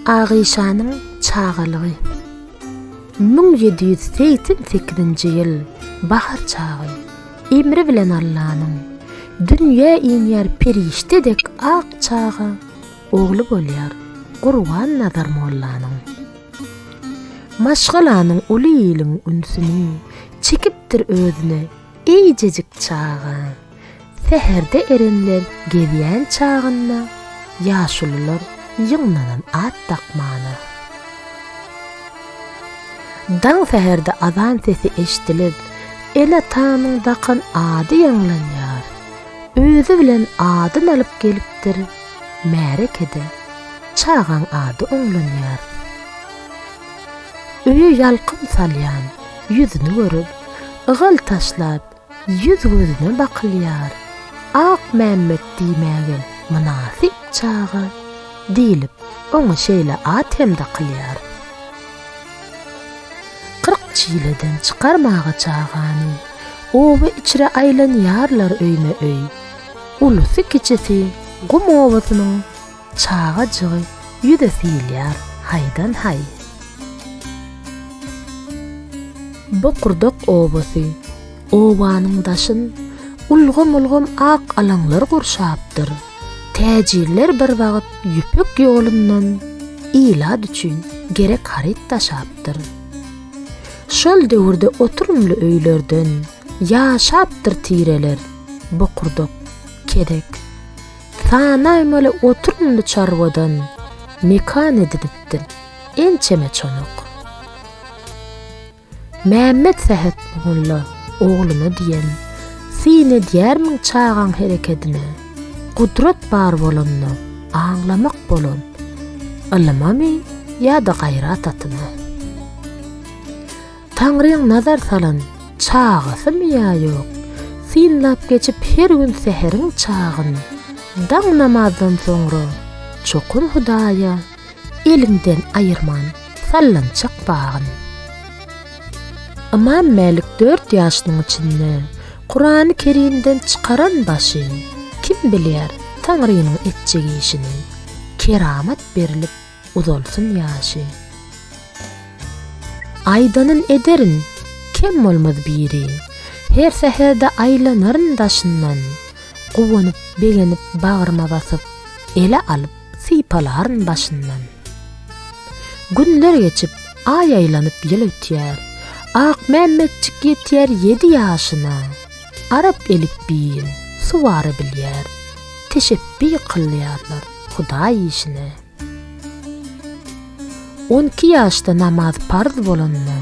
Agyşanyň çagalygy 1788-nji ýyl bahar çagy emri bilen Allanyň dünýä inýär perişde dek ak çaga ogly bolýar Gurban Nazar mollanyň. Maşgalanyň uly iliň ünsüni çekipdir özüne eýjejik çaga. Säherde erenler gezýän çagynda ýaşulular ýygnanan at dakmana. Daň säherde azan sesi eşdilip, ene-atanyň dakan ady ýaňlanýar. Özi bilen adyn alyp gelipdir. Märekede çagaň ady oňlanýar. Öýe ýalkym salýan ýüzüni görüp, ygal taşlap, Ýüz-gözüne bakylýar, Akmämmet diýmäge mynasyp çaga diýlip, oňa şeýle at hem dakylýar. Kyrk çileden çykarmaga çagany, Oba içre aýlanýarlar öýme-öý. Ulusy-kiçisi gum obasynyň Çagajygy ýüze syýylýar haýdan-haý. Bokurdak obasy. Obanyň daşyn ulgam-ulgam ak alaňlar gurşapdyr. Täjirler bir wagt Ýüpek ýolundan ilat üçin gerek haryt daşapdyr. Şol döwürde oturymly öýlerden ýaşapdyr tireler, bokurdak, kedek. Sanaýmaly oturymly çarwadan mekan edinipdim. Ençeme çonuk. Mämmet Sähet mugulla ogluna diýen, Syn edýärmiň çagaň herekedine? Gudrat bar bolanda, aňlamak bolan, Ylymamy ýa-da gaýrat atymy? Taňryň nazar salan çagasymy ýa ýok, synlap geçip her gün säheriň çagyn. Daň namazdan soňra çokum Hudaýa elimden aýyrman sallançak bagyn. Ymam Mälik dört ýaşynyň içinde Kurany Kerimden çykaran başy, kim bilýär Taňrynyň etjek işini, keramat berilip, uzalsyn ýaşy. Aýdanyn ederin, kem bolmaz biri, Her säherde aýlanaryn daşyndan, Guwanyp, begenip, bagryma basyp, Ele alyp, sypalaryn başyndan. Günler geçip, aý aýlanyp ýyl ötýär, Akmämmetjik ýetýär ýedi ýaşyna, Arap elipbiýin, suwara bilýär, Teşepbi kylýarlar Hudaý işine. On iki ýaşda namaz parz bolanda,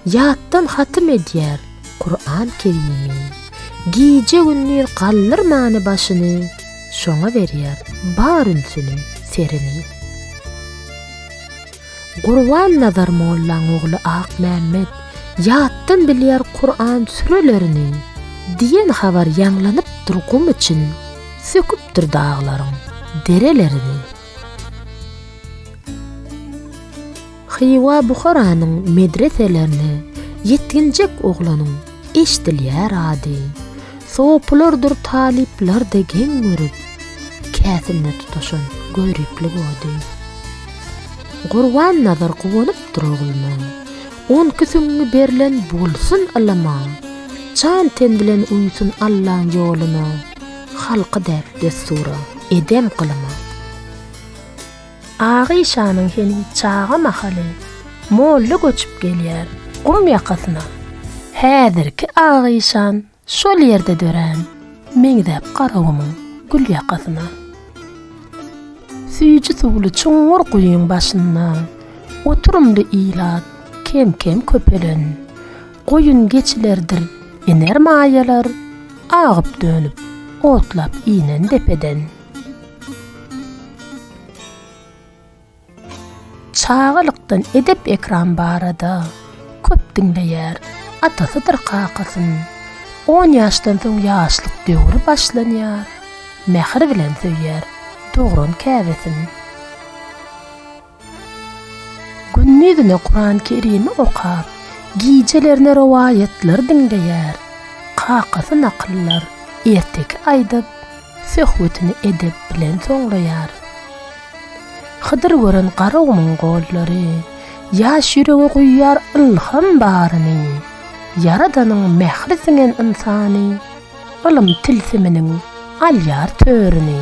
ýatdan hatym edýär Kuran Kerimi. Gije-gündiz galdyrmany başyny, şoňa berýär bar ünsüni, serini. Gurbannazar mollaň ogly Akmämmet ýatdan bilýär Kuran sürelerini. Diýen habar ýaňlanypdyr gum için. Söküpdir daglaryň derelerini. Hywa Buharanyň medreselerini Ýetginjek oglanyň eşdilýär ady. Sopulardyr talyplarda geň görüp, Käsinde tutaşan göriplik ody. Gurbannazar guwanypdyr ogluna, On iki süňňi berlen bolsun ylama, Jan-ten bilen uýsun Allaň ýoluna. Halky däp-dessura, edem-gylyma. Agyşanyň heniz çaga mahaly molla göçüp gelýär gum ýakasyna. Häzirki Agyşan şol ýerde dörän, meňzäp Garagumuň gül ýakasyna. Süýji suwly çuňňur guýyň başynda oturymly ilat kem-kem köpelen. Goýun geçilerdir iner maýalar, agyp-dönüp, otlap inen depeden. Çagalykdan edep-ekram barada köp diňleýär, atasydyr kakasyn. On ýaşdan soň ýaşlyk döwri başlanýar, mähir bilen söýýär dogran käbesin. Gündizine Kuran-Kerimi okap, gijelerine rowaýatlary diňleýär. Kakasy nakyllar, erteki aýdyp, söhbetini edep bilen soňlaýar. Hydyr gören garagumyň gollary, ýaş ýürege guýýar ylham baryny. Ýaradanyň mähri siňen ynsany, ylym tilsiminiň alýar törüni.